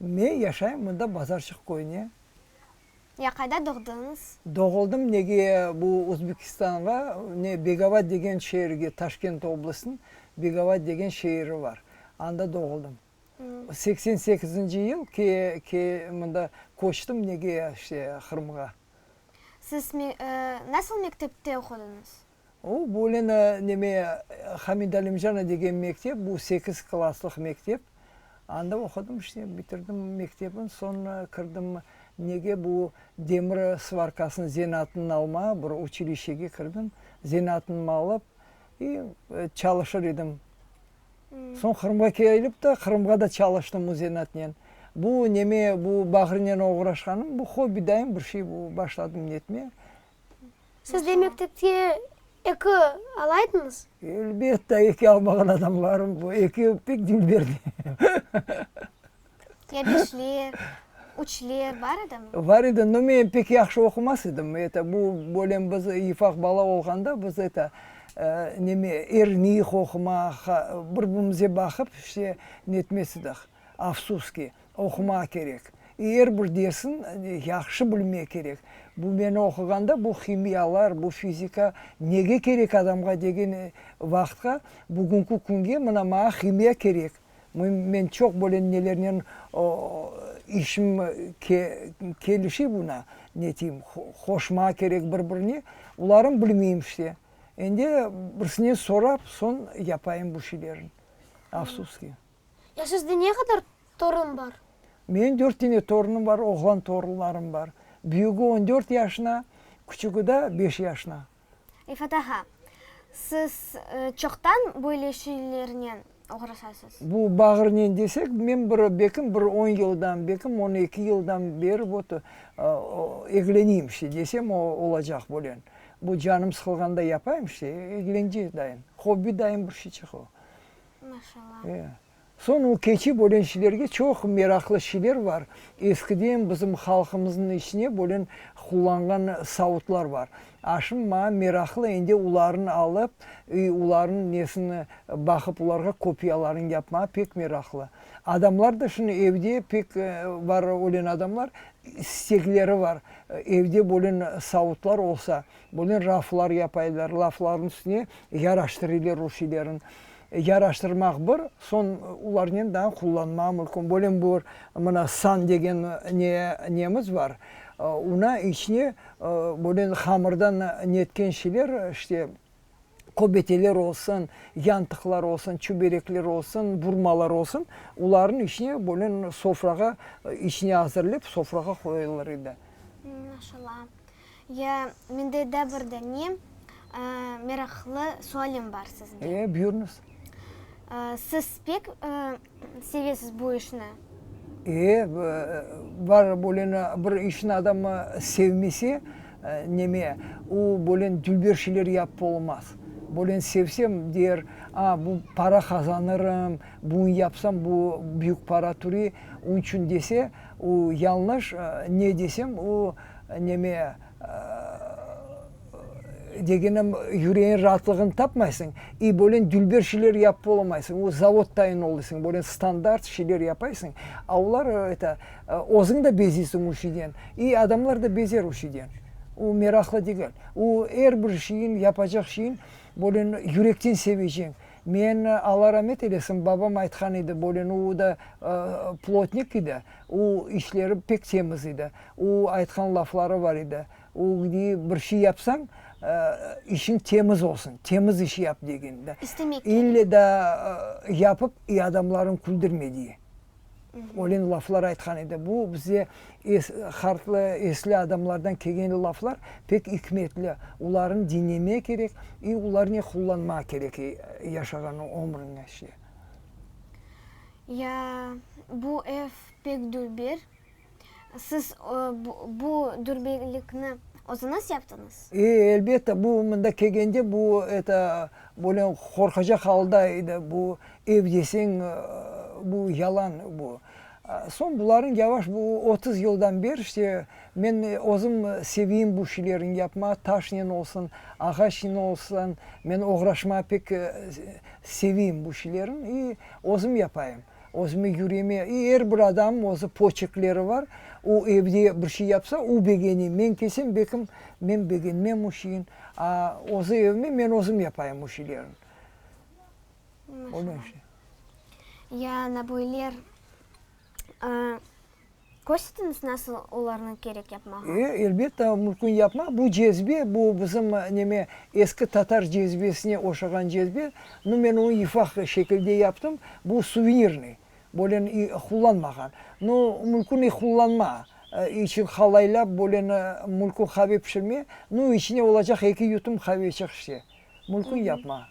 Men yaşayım mında Bazarçıq köyüne. Ya qayda doğdınız? Doğuldım nege bu Uzbekistanğa ne Begava degen şeerge Taşkent oblastın Begava degen şeeri var anda doğuldım. Seksen sekizinci yıl ke ke mında köçtüm nege işte Qırımğa. Siz me nasıl mektepte oqudınız? O, bu lena neme, Hamid Alimjana degen mektep, bu sekiz klasslıq mektep. Anda oqudım işte, bitirdim mektebni, soñra kirdim nege, bu demir svarkasınıñ zenaatınıñ almağa bir uçilişege kirdim. Zenaatnıñmı alıp, i, çalışır edim. Soñ Qırımğa kelip de, Qırımğa da çalıştım o zenaatnen. Bu neme, bu bağrınen oğraşqanım, bu hobbi dayım bir şey, bu başladım netmeye. Siz de mektepte eki alaydıñız? Elbette, eki almağan adamlarım bu, eki pek diñ berdi. Ya beşler, üçler bar edimi? Bar edi, no men pek yahşı oqumas edim, eto, bu bölem biz yifaq bala olğanda biz eto, neme, erniy qoqumaq, bir-birimize baqıp işte netmes ediq, afsus ki. Oqumaq kerek. I, er bir dersni yahşı bilmek kerek. Bu meni oquğanda bu himiyalar, bu fizika nege kerek adamğa degen vaqıtqa, bugünki künge mına maña himiya kerek. Men çoq böyle nelernen işim kelişi buna, neteyim, qoşmaq kerek bir birine. Bularnı bilmeyim işte. Endi birisinen sorap, soñ yapayım bu şeylerni. Afsus ki. Ya sizde ne qadar torun bar? Menim dört tane torunım bar, oğlan torunlarım bar. Büyügi on dört yaşına, küçügi da beş yaşına. Refat ağa, siz çoqtan böyle şeylernen oğraşasız? Bu bağırnen desek, men bir bekim bir on yıldan, bekim on eki yıldan beri vot egleniyim işte, desem olacaq bunen. Bu canım sıqılğanda yapayım işte, egleneceğiz dayım. Hobbi dayım bir şeyçik o. Maşallah. Ee. Soñ o keçi bölen şeylerge çoq meraqlı şeyler bar. Eskiden bizim halqımıznıñ içine bölen qullanğan savutlar bar. Aşım maña meraqlı endi ularnı alıp, iy, ularnıñ nesini baqıp, ularğa kopiyalarını yapmağa pek meraqlı. Adamlar da şunı evde pek var ölen adamlar, istekleri var, evde bölen savutlar olsa, Bunı raflar yapaylar, raflarnıñ üstüne yaraştırıylar rusiylerniñ. Yaraştırmaq bir, soñ olarnen daa qullanmaq mümkün. Böyle bir mına san degen ne, nemiz bar, ona içine böyle hamırdan netken şeyler, işte, köbeteler olsun, yantıqlar olsun, çüberekler olsun, burmalar olsun, olarnıñ içine böyle sofrağa, içine azırlayıp, sofrağa qoyulır edi. Maşallah. Ya, mende da bir dane meraqlı sualim bar sizge. E, buyurıñız. Siz pek sevesiz bu işni? E, bar bölen bir işni adam sevmese, neme, o bölen dülber şeyler yapıp olmaz. Bölen sevsem, der, a, bu para qazanırım, buñ yapsam, bu büyük para türe, onıñ içün dese, o yañlış, ne desem, o Neme, degenim, yüreğin raatlığını tapmaysıñ, i bölen dülber şeyler yapıp olamaysıñ, o zavod tayın olıysıñ, bölen standart şeyler yapaysıñ, a olar, eta, özüñ de beziysiñ o şeyden, i adamlar da bezer o şeyden. O meraqlı degil. O er bir şeyin, yapacaq şeyin, bölen yürekten seveceñ. Men, Alla ramet eylesin, babam aytqan edi, bölen o da plotnik edi. O işleri pek temiz edi. O aytqan lafları bar edi, o gidi, bir şey yapsañ, işiñ temiz olsun, temiz iş yap, degen da. İstemek kerek. İlle da yapıp, i adamlarıñ küldirme diye. Öyle laflar aytqan edi. Bu bize hartlı, esli adamlardan kelgen laflar pek ikmetli. Olarnı diñlemek kerek i olarnen qullanmaq kerek yaşağan ömrüñde. Ya, bu ev pek dülber. Siz bu dülberlikni özüniz yaptıñız? E, elbette, bu mında kelgende bu, eto, böyle qorqacaq halda edi, bu ev deseñ, bu yalan bu. Soñ bularnıñ yavaş, bu otuz yıldan beri, işte, Men özüm seviyim bu şilerin yapmağa, taşnen olsun, ağaçnen olsun, men oğraşmağa pek seviyim bu şilerin i özüm yapayım, özüme yüreme i er bir adamım özü poçekleri var, o evde bir şey yapsa, o begene, men kelsem bekim men begenmem o şeyin, a özü evime men özüm yapayım o şilerin. Maşallah. Ya ana böyler. Körsetiñiz, nasıl olarnı kerek yapmağa? E, elbette, mümkün yapmaq. Bu cezbe, bu bizim, neme, eski tatar cezbesine oşağan cezbe. Nu, men onı ifaq şekilde yaptım. Bu suvenirnıy, böyle qullanmağan. Nu, mümkün i qullanma içün qalaylap, böyle mümkün qave pişirme. Nu, içine olacaq eki yutum qave içiq işte. Mülkün yapma.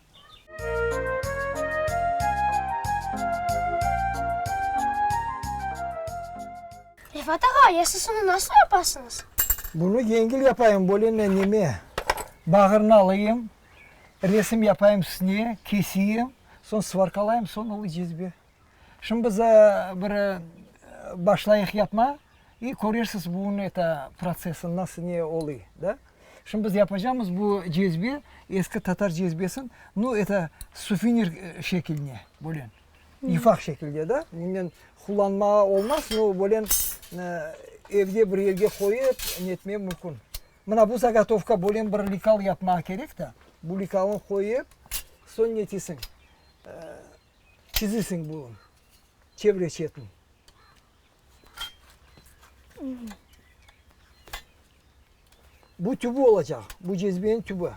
Refat ağa, yasısını nasıl yapasıñız? Bunı yengil yapayım, bolene neme, bağırını alayım, resim yapayım üstüne, kesiyim, soñ sıvarkalayım, soñ ılı cezve. Şimdi biz bir başlayıq yapma, i körersiz bunun eta protsesini nasıl ne oluy, da. Şimdi biz yapacamız bu cezbe, eski tatar cezbesin, nu, eta sufinir şekiline, böyle yufaq şekilde, da. Bundan qullanmağa olmaz, nu, böyle evde bir yerge qoyıp netmek mümkün. Mına bu zagatovka böyle bir likal yapmağa kerek, da. Bu likalı qoyıp, soñ netesiñ. Çizisiñ bunıñ çevre çetini. Bu tübü olacaq, bu cezbeniñ tübü.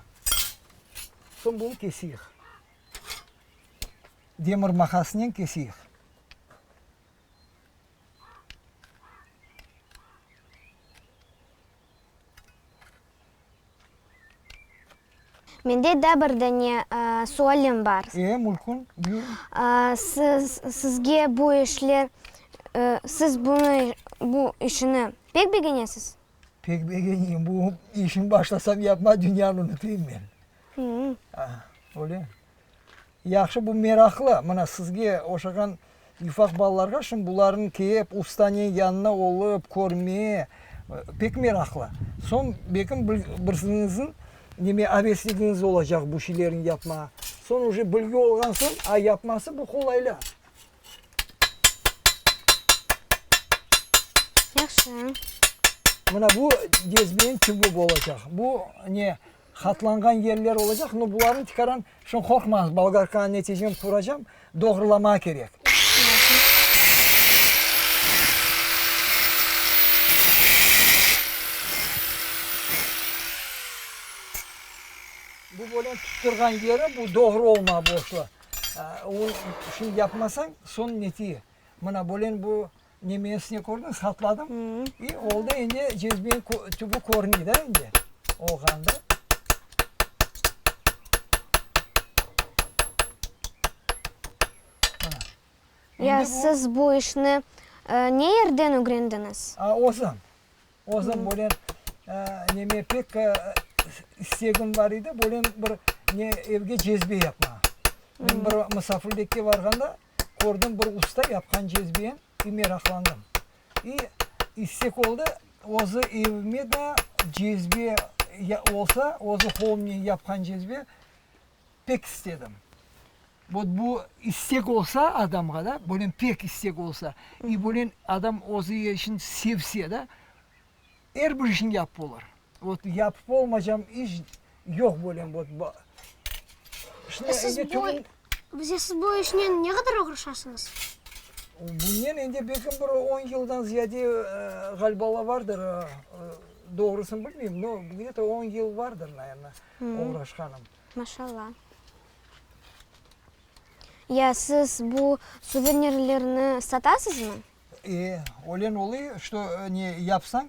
Soñ bunı kesiyiq. Demir maqasınen kesiyiq. Mende da bir dane sualim bar. E, mülkün, buyurıñ. Siz, sizge bu işler, siz bunı, bu işini pek begenesiz? Pek begenim. Bu işni başlasam yapma, dünyanı unutayım men. Öyle. Yahşı, bu meraqlı. Mına, sizge oşağan yufaq balalarğa şim bularnı kep, ustanen yanına olıp, körme pek meraqlı. Soñ belkim bil, birsiñizin neme avesligiñiz olacaq bu şeylerni yapmağa. Soñ uje bilgi olğan soñ, a yapması bu qolayla. Yahşı. Mına bu dezbeyniñ tübü bolacaq. Bu ne, Hatlanğan yerler olacaq, no bularnı tikaran şun qorqmañız, Bolgarka neticem quracam, doğrulama kerek. Bu böyle tutturğan yeri bu doğru olma boşlu. O şunı yapmasañ, son netiye. Mına böyle bu. Ne mesne kördiñiz, hatladım. İ, oldı endi cezbeniñ ko, tübi körüni da endi. Olğanda. Mana. Ya Endi bu- siz bu işni e, ne yerden ögrendiñiz? A, özüm. Özüm bölen e, neme pek e, istegim bar edi, bölen bir ne evge cezbe yapmağa. Men bir musafirlikke barğanda, kördim bir usta yapqan cezbem i meraqlandım. İ istek oldı, özü evime da cezbe ya olsa, özü qolumnen yapqan cezbe pek istedim. Vot bu istek olsa adamğa da, bölen pek istek olsa, i bölen adam özü işin sevse da, Er bir işiñ yapıp olur. Vot yapıp olmacam iş yoq böyle vot. Şimdi endi tübün. Bize siz bu işnen ne qadar oğraşasıñız? Bunnen endi belki bir on yıldan ziyade ğaliba ola vardır. Doğrusını bilmeyim, no где то on yıl vardır naerno oğraşqanım. Maşa Allah. Ya siz bu suvenirlerni satasızmı? E, ölen oluy, çto ne yapsañ,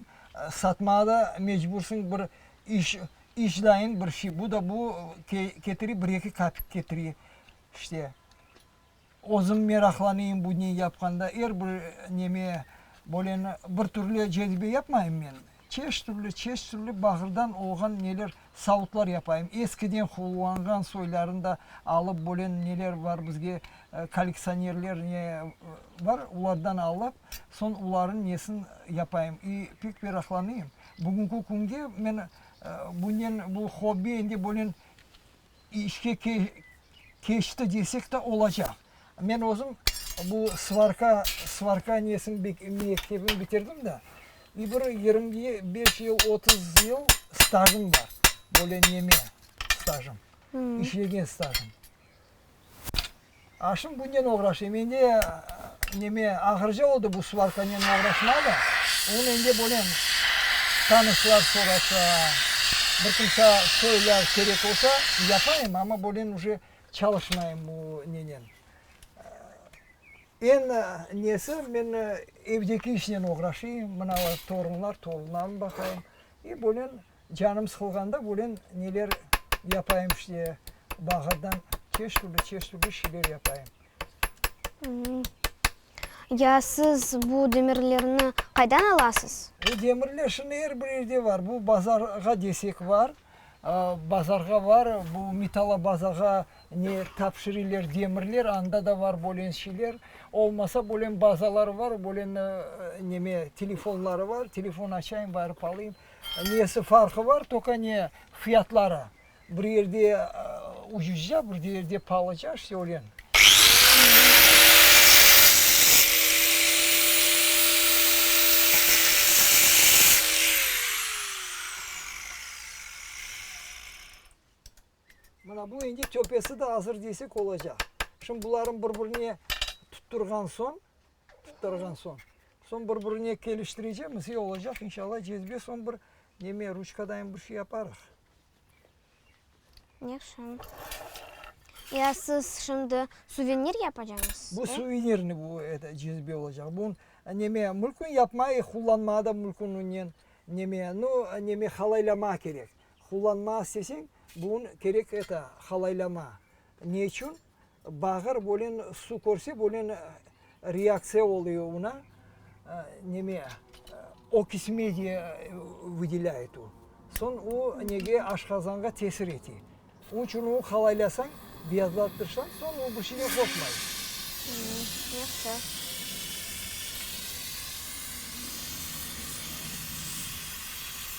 satmağa da mecbursıñ, bir iş, işdayıñ bir şey, bu da bu ke, ketiri, bir eki kapik ketiri, işte. Özüm meraqlanıyım bu ne yapqanda, er bir neme, böyle ne, bir türlü cezibe yapmayım men. Çeş türlü, çeş türlü bağırdan olğan neler savutlar yapayım. Eskiden qullanğan soyların da alıp bölen neler bar bizge kolleksionerler ne bar, ulardan alıp, soñ ularnıñ nesin yapayım. İ pek meraqlanıyım. Bugünki künge men bunen, bu hobbi endi bunen İşke keçti desek de olacaq. Men özüm bu svarka, svarka nesini bek, mektebini bitirdim de, i bir yirmi beş yıl, otuz yıl stajım bar. Böyle neme stajım, işlegen stajım. Aşım bunnen oğraşay. Mende, neme, ağırca oldı bu svarkanen oğraşma da. O mende böyle tanışlar sorasa, bir kimse söyle, kerek olsa, yapayım, amma böyle uje çalışmayım bu nenen. Eñ nesi, men evdeki işnen oğraşayım, mına torunlar, torunlarım baqayım. E böyle Canım sıqılğanda bulen neler yapayım işte, bağırdan çeş türlü, çeş türlü şeyler yapayım. Ya siz bu demirlerni qaydan alasız? Bu demirler şimdi er bir yerde var. Bu bazarğa desek var, bazarğa var, bu Mitala bazarğa ne tapşırılar demirler, anda da var bulen şeyler. Olmasa bulen bazalar var, bulen neme telefonları var, telefon açayım, barıp alayım. Nesi farqı bar, toka ne, fiyatları. Bir yerde ucuzca, bir yerde paalıca, işte öyle. Mına bu indi töpesi de azır desek olacaq. Şimdi bularnı bir-birine tutturğan soñ. Tutturğan soñ, soñ bir-birine keliştirecekmiz, e, olacaq, inşallah, cezbe, soñ bir neme, ruçkadanem bir şey yaparıq. Yahşı. Ya siz şimdi suvenir yapacaqsız? Bu suvenirniy bu, eto, cezbe olacaq. Bu, neme, mülkün yapmay, qullanmağa da mülkün unen, neme, nu, neme, halaylamağa kerek. Qullanmağa isteseñ, bunı kerek, eto, halaylamağa. Ne içün? Bağır bölen, su körse bölen reaktsiya oluyo una, neme, okis media vıdelâyet o. Soñ o nege, aşqazanğa tesir ete. Onıñ içün o qalaylasañ, beyazlattırsañ, soñ o bir şey de qoşmay. Yahşı.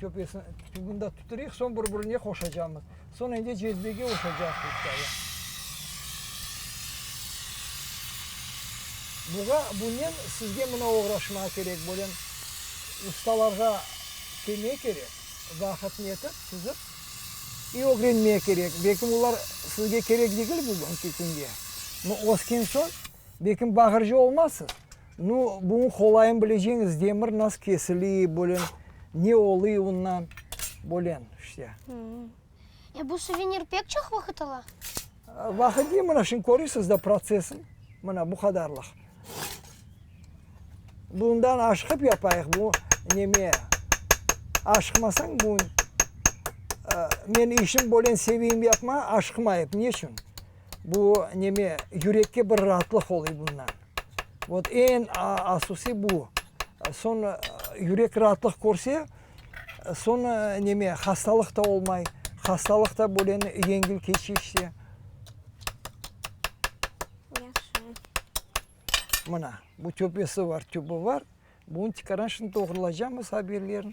Köpesini tübünde tuturıq, soñ bir-birine qoşacağımız. Soñ endi cezvege qoşacağız pıçtağı. Buğa, bunen sizge mına oğraşmağa kerek, böyle ustalarğa kelmege kerek, vaqıtnı yetip, tizip i ögrenmege kerek. Belki olar sizge kerek degil bugünki künde, amma ösken soñ, Bekim Bahırcı olmazsız? Nu, buñı qolayın bileceñiz, demir nasıl kesili, böyle, ne oluy undan, böyle, işte. E, bu suvenir pek çoq vaqıt ala? Vaqıt ne, mına şimdi körüsiz da protsesini, mına bu qadarlıq. Bundan aşqıp yapayıq, bu neme, aşqımasañ bu, men işim böyle seveyim yapmağa, aşqımayıp, neçün? Bu neme, yürekke bir raatlıq oluy bundan. Vot eñ asusi bu. Soñ yürek raatlıq körse, soñ neme, hastalıq ta olmay. Hastalıq ta böyle yengil keçi işte. Yaşı. Mına, bu töpesi bar, tübü bar. Bunı çıqaran, şimdi doğrulaycamız, ha bir yerini.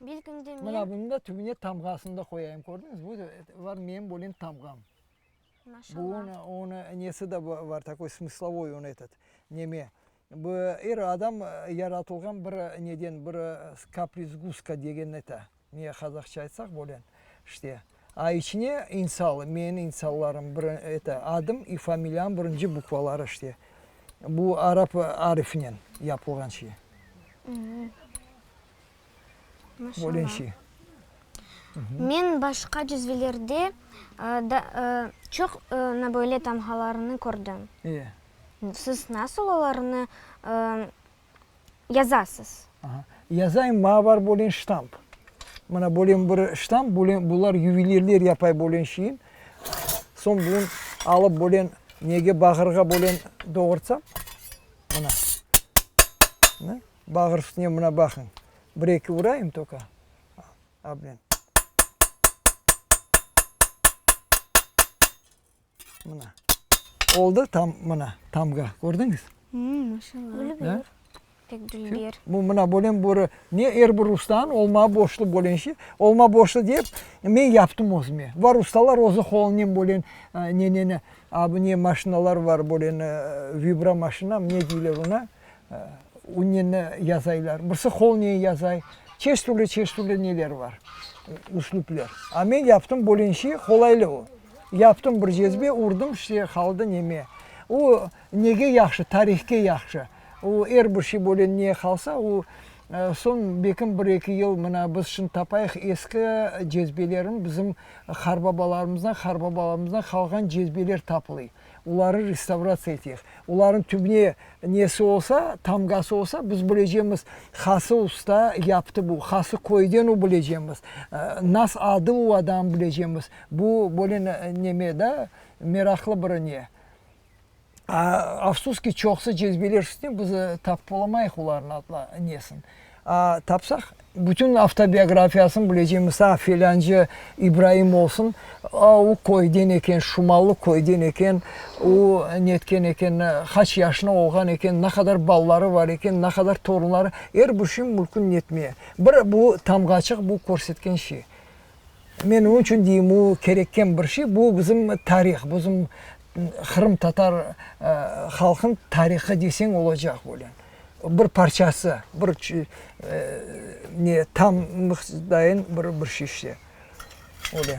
Belkimde men... Mına bunıñ da tübüne tamğasını da qoyayım, kördiñiz? Bu da var menim bölgen tamğam. Maşallah. Bu onı, onı nesi de var, takoy smıslovoy onı etet, neme, bu er adam yaratılğan bir neden, bir kaprizguska degen nete, Ne qazaqça aytsaq bolen işte. A içine İnsal, menin İnsallarım bir eto adım i familiyam birinci bukvaları işte. Bu arap arifinen yapılğan şey. Bolen şey. Men başqa cizvelerde da çoq na böyle tamğalarını kördim. Siz nasıl olarnı yazasız. Aha. Yazayım, maña bar bölen ştamp. Mına bölen bir ştamp, bölen bular yuvelirler yapay bölen şeyim. Soñ bun alıp bölen nege bağırğa bölen doğurtsam, mına. Mına, bağır üstüne mına baqıñ. Bir eki urayım toka. Abnen. Mına. Oldı tam mına tamğa. Kördiñiz? Maşallah. Bu mına bölen börü ne er bir ustanıñ olma boşlu bölenşi. Olma boşlu dep men yaptım özüme. Var ustalar özü qolunen bölen neneni, a bu ne maşinalar var bölen vibromaşinam ne deyler ona. Ünneni yazaylar, birisi holniye yazay, çeşit türlü, çeşit türlü neler bar, üslüpler. A men yaptım bölünşi, qolaylı o. Yaptım bir cezbe, urdım, işte qaldı neme. O nege yahşı, tarihke yahşı. O er bir şey böyle ne qalsa, o soñ belkim bir eki yıl mına biz şimdi tapayıq eski cezbelerin, bizim qarbabalarımızdan, qarbabalarımızdan qalğan cezbeler tapılay. Oları restavratsiya eteyik. Olarnıñ tübüne nesi olsa, tamğası olsa, biz bilecemiz, hası usta yaptı bu, hası köyden o bilecemiz, nas adı o adam bilecemiz. Bu böyle neme da, meraqlı bir ne. Afsus ki, çoqusı cezbeler üstüne biz tapıp olamayıq olarnıñ nesin. Tapsaq, bütün avtobiografiyasını bilecemiz, a, filâncı İbraim olsun, a, o köyden eken, Şumallı köyden eken, o netken eken, qaç yaşına olğan eken, ne qadar balaları bar eken, ne qadar torunları, er bir şeyin mülkün netmeye. Bir bu tamğaçıq, bu körsetken şey. Men onıñ içün deyim, o, kerekken bir şey, bu bizim tarih, bizim qırımtatar halqınıñ tarihı deseñ olacaq öyle. Bir parçası, bir ne, tam mıqdayen bir şey işte, öyle.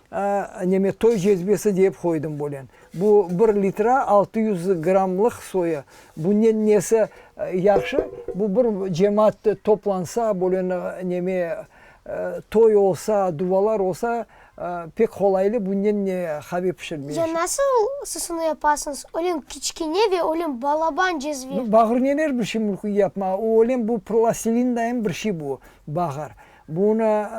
Eneme toy cezbesi dep qoydım bolen. Bu bir litre altı yüz grammlıq soya. Bunnen nesi yahşı, bu bir cemaat toplansa, bolen eneme toy olsa, duvalar olsa, pek qolaylı bunnen qave pişirmeye. Ya nasıl sısını yapasıñız? Öylem kiçkene ve öylem balaban cezve. Bağır neler bir şey mülkün yapmağa, öylem bu plastilindayen bir şey bu bağır. Bunı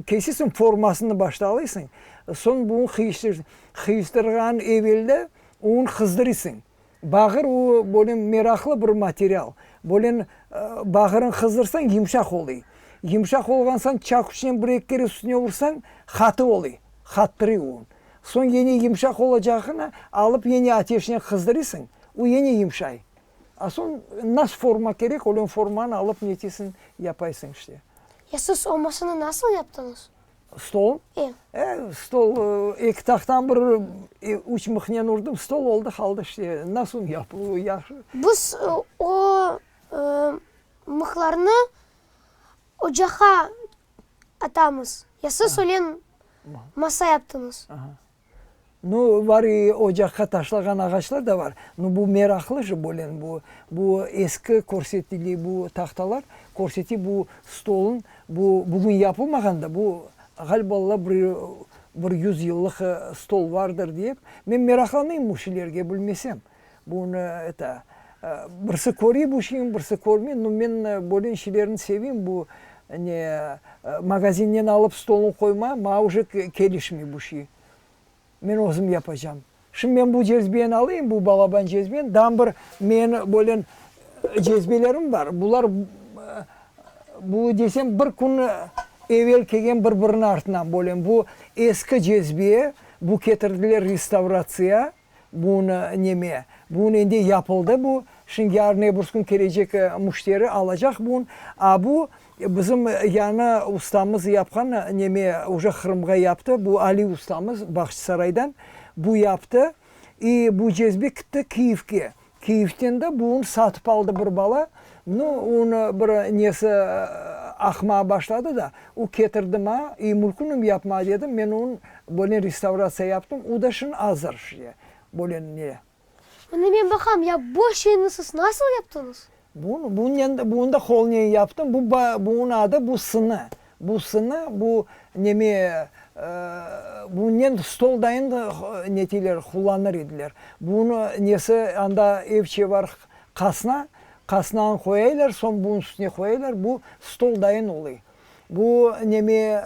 kesesiñ, formasını başta alıysıñ, soñ bunı qıyıştırıysıñ. Qıyıştırğan evelde onı qızdırıysıñ. Bağır o, böyle meraqlı bir material. Böyle bağırın qızdırsañ, yımşaq oluy. Yımşaq olğan soñ çakuçnen bir-eki kere üstüne ursañ, qatı oluy, qattırıy o. Soñ yene yımşaq olacağına alıp yene ateşnen qızdırıysıñ, o yene yımşay. A soñ nas forma kerek, ölen formanı alıp netesin, yapaysıñ işte. Ya siz o masanı nasıl yaptıñız? Stol? E. E, stol, eki tahtan bir, üç mıhnen urdım, stol oldı, qaldı işte. Nas soñ yapıluvı yahşı. Biz o mıhlarnı ocaqqa atamız. Ya siz ölen masa yaptıñız? No, var i ocaqqa taşlağan ağaçlar da var. No, bu meraqlı jı bölen bu. Bu eski körsetili bu tahtalar, körseti bu stolun, bu bugün yapılmağan da, bu ğaliba la bir bir yüz yıllıq stol vardır dep. Men meraqlanıyım bu şeylerge, bilmesem. Bunı eta, birsi körip uçin, birsi körmey. Nu, men böyle işlerini sevim, bu ne magazinden alıp stolun qoyma, maña uje kelişmey bu şey. Men özüm yapacam. Şimdi men bu cezbeni alayım, bu balaban cezbeni, dan bir men böyle cezbelerim bar, bular bu desem bir kün evel kelgen bir-biriniñ artınan böyle bu eski cezbe, bu ketirdiler restavratsiya. Bugün neme? Bugün endi yapıldı bu, şimdi yarın-ebürs kün kelecek müşteri alacaq bugün. A bu bizim yanı ustamız yapqan neme, oca Qırımğa yaptı, bu Ali ustamız Bağçısaraydan, bu yaptı. İ bu cezbe kitti Kiyevge, Kyivden de bu un satıp aldı bir bala. Nu, onı bir nesi aqmağa başladı da, o ketirdi maña, i mülkünim yapma dedim, men onı böyle restavratsiya yaptım, o da şimdi azır, böyle ne. Bunı men baqam, ya bu şeyniñ siz nasıl yaptıñız? Bunı da qolınen yaptım, bunıñ adı bu sını, bu sını, bu neme, bunınen stol dayın neteyler, qullanır ediler. Bunı nesi, anda evçe bar, qasna, qasnanı qoyaylar, soñ bunıñ üstüne qoyaylar, bu stol dayın oluy. Bu neme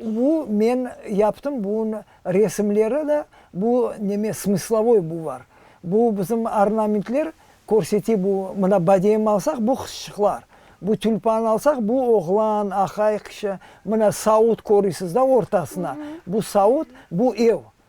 bu men yaptım bun resimleri da bu neme smıslovoy bu var bu bizim ornamentler körsete bu mına badem alsaq bu qızçıqlar bu tülpan alsaq bu oğlan aqay qışı mına saut körüsiz da ortasına bu saut bu ev.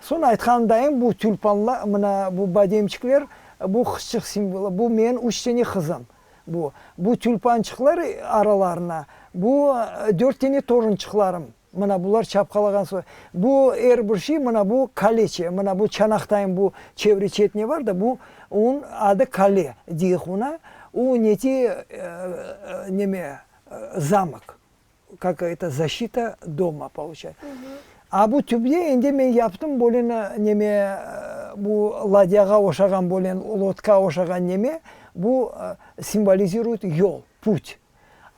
Soñ aytqanımdayım, bu tülpanla, mına bu bademçikler, bu qızçıq simvolı, bu men üç tane qızım, bu. Bu tülpançıqlar aralarına, bu dört tane torunçıqlarım, mına bular çapqalağan soy. Bu er bir şey, mına bu kaleçe, mına bu çanaqtayım, bu çevre çetine bar da, bu uun adı kale deyik una, u neti, neme, zamok. Kak eto zaşita doma pouçay. A bu tübde endi men yaptım böyle neme, bu ladyağa oşağan böyle lodka oşağan neme, bu simvolizirüyt yol, put.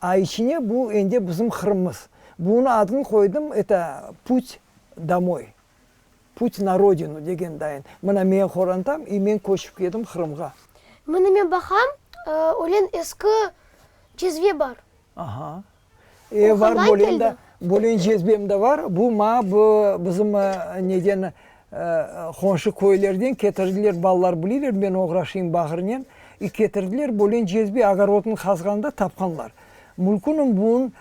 A içine bu endi bizim Qırımımız. Bunı adını qoydım, eto, put domoy. Put na rodinu, degen dayın. Mına meñ qorantam, i meñ köçip kedim Qırımğa. Mına meñ baqam, ölen eski cezve bar. Aha. E, var, bolen da, bolen cezvem da var. Bu maña bu bizim neden, qonşu köylerden ketirdiler, balalar bilirler, meñ oğraşayım bağırınen. İ ketirdiler, bolen cezve, ogorodnı qazğanda tapqanlar. Mülkünüm bun,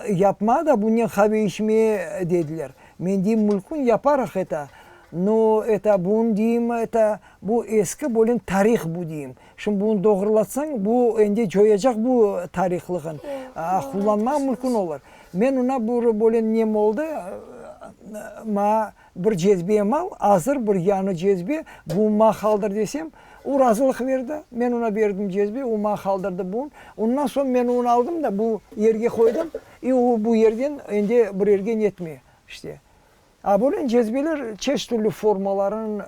yapma da bunen qave içme, dediler. Men deyim, mülkün yaparıq eta, no eta bun deyim, eta bu eski bölün tarih bu deyim. Şimdi bunı doğrulatsañ, bu endi coyacaq bu tarihlığın, qullanmaq mülkün olur. Men ona bur bölün nem oldı, ma bir cezbem al, azır bir yanı cezbe, bun ma qaldır desem, o razılıq berdi. Men ona berdim cezbe, o ma qaldırdı bun. Ondan soñ men onu aldım da bu yerge qoydım. E, o bu yerden endi bir yerge netmey, işte. A böyle cezbeler çeşit türlü formaların,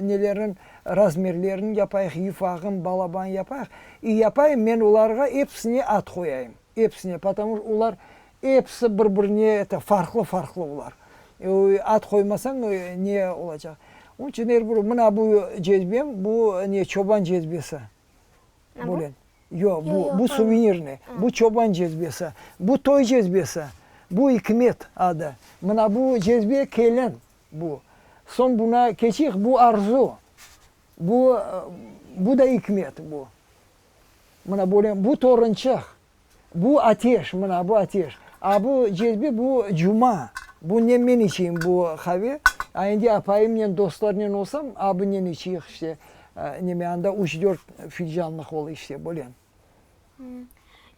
nelerin, razmerlerin yapayıq, yufağın, balaban yapayıq. E, yapayım, men olarğa episine ad qoyayım, episine, potomu ki olar episi bir birine eto farqlı farqlı olar. E, o ad qoymasañ ne olacaq? Onıñ içün er bir, mına bu cezbem, bu ne, çoban cezbesi. Böyle. Yoq, bu, bu suvenirniy, bu çoban cezbesi, bu toy cezbesi, bu ikmet adı. Mına bu cezbe, kelin bu. Soñ buna keçik, bu arzu, bu, bu da ikmet bu. Mına böyle, bu torunçıq, Bu ateş, mına, bu ateş. A bu cezbe, bu cuma. Bu ne men içeyim bu qave, a endi apayımnen, dostlarınen olsam, a bunen içeyik işte, neme, anda üç-dört filcanlıq ol işte, böyle.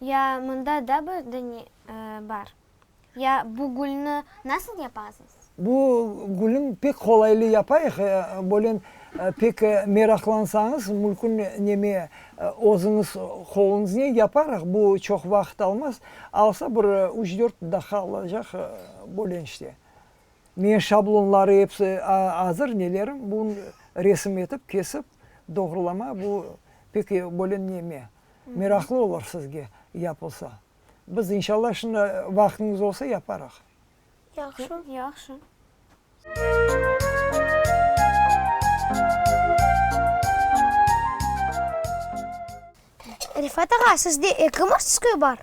Ya mında da böyle bar? Ya bu gülni nasıl yapasız? Bu gülni pek qolaylı yapayıq, bölen pek meraqlansañız mülkün neme özüñiz qoluñıznen yaparıq, bu çoq vaqıt almaz, alsa bir üç-dört daqiqa alacaq bölen işte. Meñ şablonları episi azır nelerim, bun resim etip kesip doğrulama bu pek bölen neme meraqlı olur sizge yapılsa. Biz, inşallah, şimdi vaqtımız olsa yaparıq. Yahşı. Yahşı. Refat ağa, sizde eki mastskoy bar?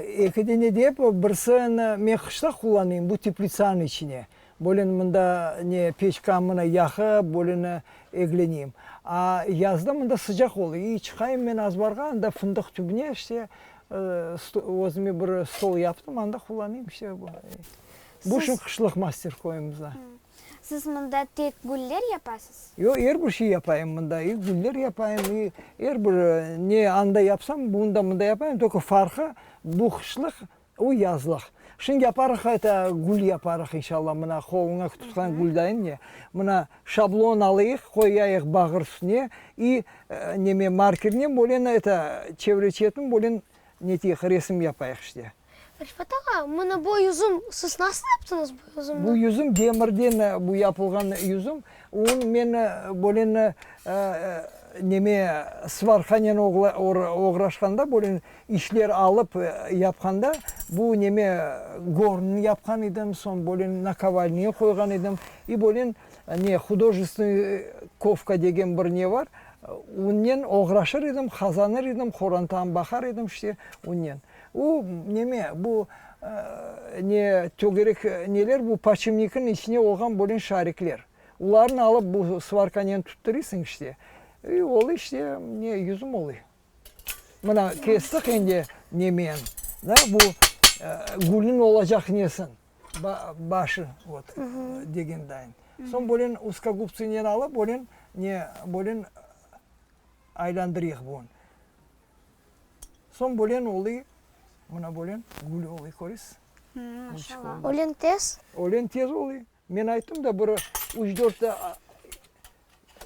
Eki dene dep, birsini men qışta qullanayım, bu teplitsanıñ içine. Bölün mında ne peçka mına yahı, bölün egleneyim. A yazda mında sıcaq oluy. İy, çıqayım men azbarğa, anda fındıq tübüne işte özüme bir stol yaptım, anda qullanayım işte. Bu şun qışlıq master koyumızda. Siz mında tek güller yapasız? Yoq, er bir şey yapayım mında. İ güller yapayım, i er bir ne anda yapsam, bunda mında yapayım, tolko farqı, bu qışlıq Uy, yazlıq. Şimdi yaparıq eta, gül yaparıq, inşalla, mına qoluña tutqan güldain ne, mına şablon alayıq, qoyayıq bağır üstüne, i neme, markernen bolen eta, çevre-çetni bolen neteyik, resim yapayıq işte. Rifat ağa, mına bu yüzüm, siz nasıl yaptıñız bu yüzümni? Bu yüzüm demirden bu yapılğan yüzüm, onı men bolen neme, svarkanen oğraşqanda bolen İşler alıp yapqanda bu neme gornını yapqan edim, soñ böyle nakovalniye qoyğan edim. İ böyle ne, hudojestvenıy kovka degen bir ne bar, unen oğraşır edim, qazanır edim, qorantaam baqar edim işte unen. O neme, bu ne, tögerek neler bu, podşipnikniñ içine olğan böyle şarikler. Ularnı alıp bu svarkanen tutturıysıñ işte. İ olı işte ne, yüzüm olıyı. Mına kestiq endi nemen, na, bu gülniñ olacaq nesin, başı, vot, degendayin. Soñ böyle uskogubtsınen alıp, böyle ne, böyle aylandırıyıq bun. Soñ böyle oluy, mına böyle gül oluy, köresiz? Maşallah. Öyle tez? Öyle tez oluy. Men ayttım da, bir üç-dört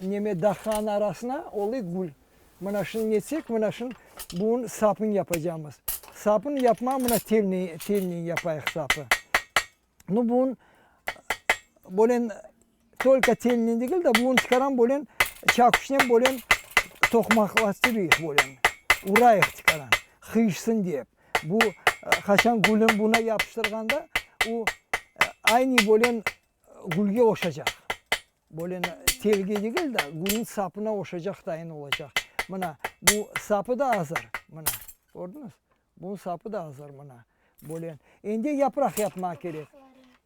neme dahqanıñ arasına olıy gül. Mına şunı netsek, mına şunı, buñ sapını yapacamız. Sapını yapmam, mına telni, telnen yapayıq sapı. Nu, buñ böyle tolko telnen degil de, buñ çıqaram böyle çakuşnen böyle toqmaqlastırıyıq böyle, urayıq çıqaram, qıyışsın dep. Bu, qaçan gülün buna yapıştırğanda, o, aynı bölen gülge oşacaq. Bölen telge degil de, gülün sapına oşacaq tayin olacaq. Mına, bu sapı da azır, mına, kördiñiz? Bunıñ sapı da azır, mına, bölen. Endi yapraq yapmağa kerek.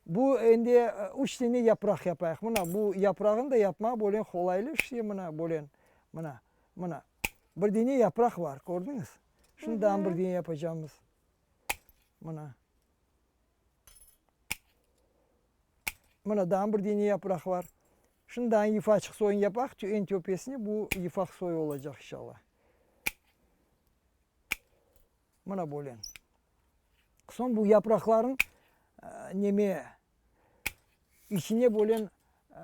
Bu, endi üç tane yapraq yapayıq. Mına, bu yaprağını da yapmağa bölen qolaylı, işte, mına, bölen, mına, mına, bir tane yapraq bar, kördiñiz? Şimdi amburgini yapacağımız. Mına. Mına da amburgini yaprak var. Şimdi daha yufka açıq soyun yapaq. En töpesine bu yufaq soyu olacaq inşallah. Mına böyle. Son bu yaprakların e, neme içine böyle e,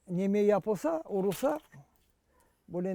neme yapılsa, urulsa böyle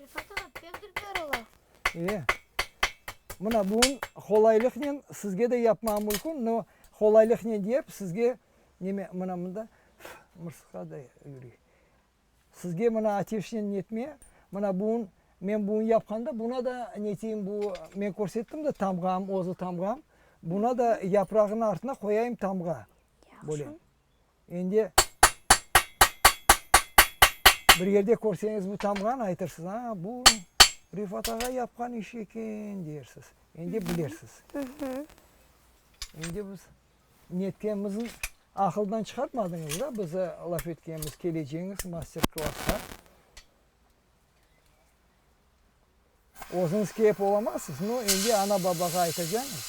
Refat ağa, pek dürber ola. E, mına buñ qolaylıqnen sizge de yapmam mülkün, no qolaylıqnen diyep, sizge, neme, mına mında fı, mırsıqlar da yürey. Sizge mına ateşnen netme, mına buñ, men buñ yapqanda buna da neteyim, bu, men körsettim da tamğam, özü tamğam, buna da yaprağın artına qoyayım tamğa. Böyle. Yahşı. Endi bir yerde körseñiz bu tamğanı aytırsız, a, bu Refat ağa yapqan işi eken, deyersiz. Endi bilersiz. Endi biz netkenimizni aqıldan çıqartmadıñız da, bize laf etkeniñiz, keleceğiñiz master-klassqa. Özüñiz kiyip olamazsız, no, endi ana-babağa aytacañız,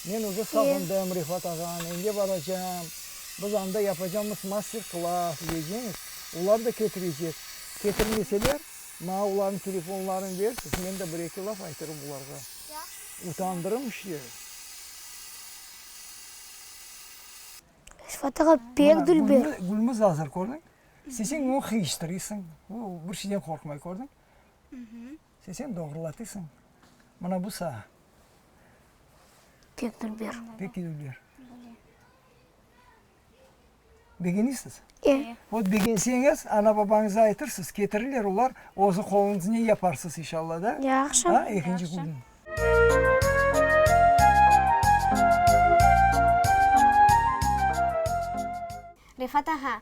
men üze sağındım, Refat ağam, endi baracam, biz anda yapacamız master-klass, diyeceñiz, olar da ketirecek. Ketirmeseler, maña olarnıñ telefonlarını bersiz, men de bir-eki laf aytırım olarğa. Yahşı. Utandırım işte. Refat ağa, pek dülber. Gülmüz azır, kördiñ? Sesen oñ hıyıştırıysıñ, bir şeyden qorqmay, kördiñ? Sesen doğrulatıysıñ, mına bu sağa. Tek dülber. Tek dülber. Begeniysiz? E. Ot begenseñiz, ana-babañıza aytırsız, ketirirler olar, özü qoluñıznen yaparsız, inşalla da. Yahşı. A, ekinci künü. Refat ağa,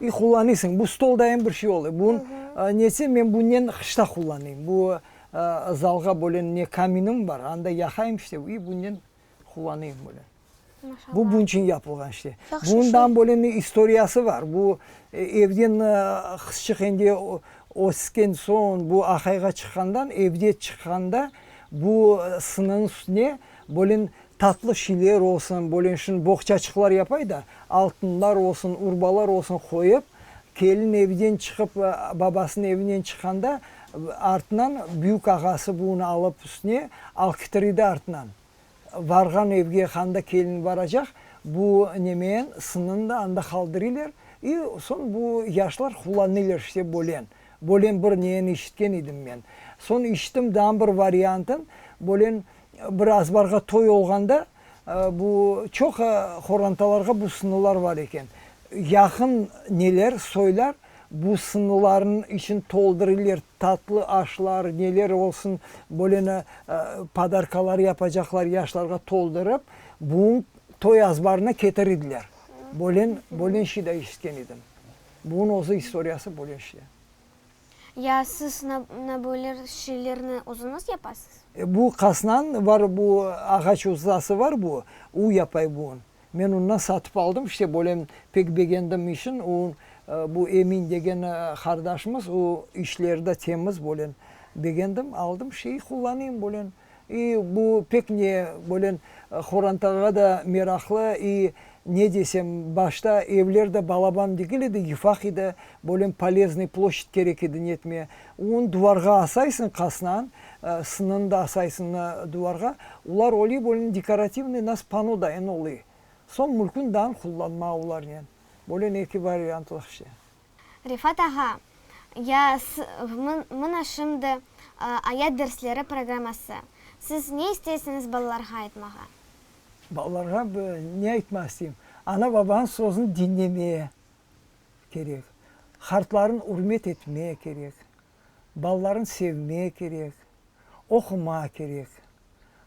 İ, qullanıysıñ, bu stoldayım bir şey ola. Bu nesi, men bunnen qışta qullanayım. Bu zalğa böyle ne kaminim bar, anda yaqayım işte, i bunnen qullanayım böyle. Bu bunun içün yapılğan işte. Bundan böyle ne istoriyası bar. Bu evden qızçıq endi ösken soñ, bu aqayğa çıqqandan, evde çıqqanda bu sınıñ üstüne böyle Tatlı şiler olsun, bölenşin boğçaçıqlar yapay da, altınlar olsun, urbalar olsun qoyıp, kelin evden çıqıp, babasınıñ evinen çıqqanda, artınan büyük ağası bunı alıp üstüne alkitriydi artınan. Varğan evge qanda kelin varacaq, bu nemeyen sınını da anda qaldırıylar, i soñ bu yaşlar qullanıylar işte bölen. Bölen bir neyeni işitken idim men. Soñ işittim daa bir variantın, bölen Bir azbarğa toy olğanda, bu çoq qorantalarğa bu sınılar var eken. Yaqın neler soylar, bu sınılarnıñ içini toldurular, tatlı aşlar, neler olsun, böyle ne podarkalar yapacaqlar yaşlarğa toldurıp, bugün toy azbarına ketir ediler. Böyle böyle şey de eşitken edim. Bugün özü istoriyası böyle şey. Ya siz na böyle şeylerni özüniz yapasız? Bu qasnan var bu ağaç ustası var bu, u yapay bun. Men undan satıp aldım işte böyle pek begendim işin u bu Emin degen qardaşımız u işlerda temiz böyle begendim aldım şey qullanayım böyle. İ, bu pek ne, böyle qorantağa da meraqlı, i, ne desem, başta evler de balaban degil edi, yufaq edi, böyle poleznıy ploşçad kerek edi, netme, un duvarğa asaysıñ qasnan, sınını da asaysıñ duvarğa, ular oley böyle dekorativnıy nas pano dayın oley, soñ mülkün dan qullanma ularnen, böyle eki variantlıq şey. Refat ağa, ya s, mına şimdi ayat dersleri programması. Siz ne isteysiñiz balalarğa aytmağa? Balalarğa ne aytmaq isteyim? Ana-babanıñ sözüni diñlemeye kerek. Hartlarını ürmet etmeye kerek. Balalarını sevme kerek, oquma kerek.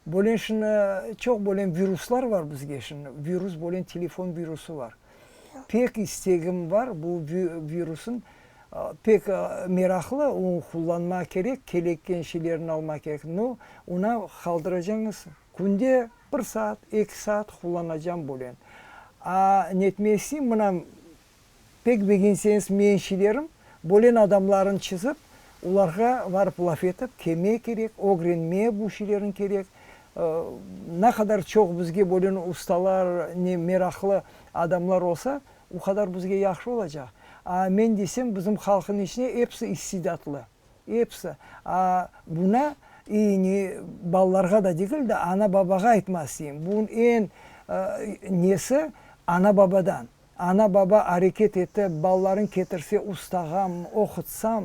Bölen şimdi çoq bölen viruslar bar bizge şimdi, virus bölen telefon virusı bar. Pek istegim bar bu virusın pek meraqlı o qullanma kerek, keleken şeylerini alma kerek. No, ona qaldıracañız künde bir saat, eki saat qullanacam bölen. A netmesi mına Pek begenseñiz men şilerim, bolen adamlarnı çizip, olarğa varıp laf etip, keme kerek, ögrenme bu şilerni kerek, na qadar çoq bizge bolen ustalar, ne meraqlı adamlar olsa, o qadar bizge yahşı olacaq. A men desem, bizim halqnıñ içine episi istidatlı, episi. A buna iyini balalarğa da degil de, ana-babağa aytmaq isteyim, bunıñ eñ nesi, ana-babadan. Ana-baba areket etip, balalarıñ ketirse ustağam, oqutsam,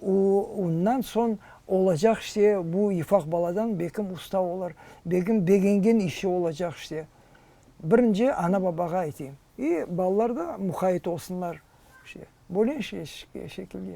u, undan soñ olacaq işte bu ifaq baladan bekim usta olur, bekim begengen işi olacaq işte. Birinci ana-babağa aytayım. İ, balalar da muqayet olsunlar, işte, böyle şekilde.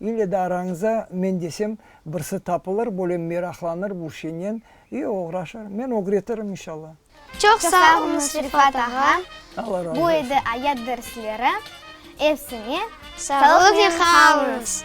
İlle de arañıza men desem, birsi tapılır, böyle meraqlanır bu şeynen i oğraşır. Men ögretirım, inşalla. Çoq sağ olunız, Refat ağa, bu edi ayat dersleri. Efsine sağlıqnen qalınız!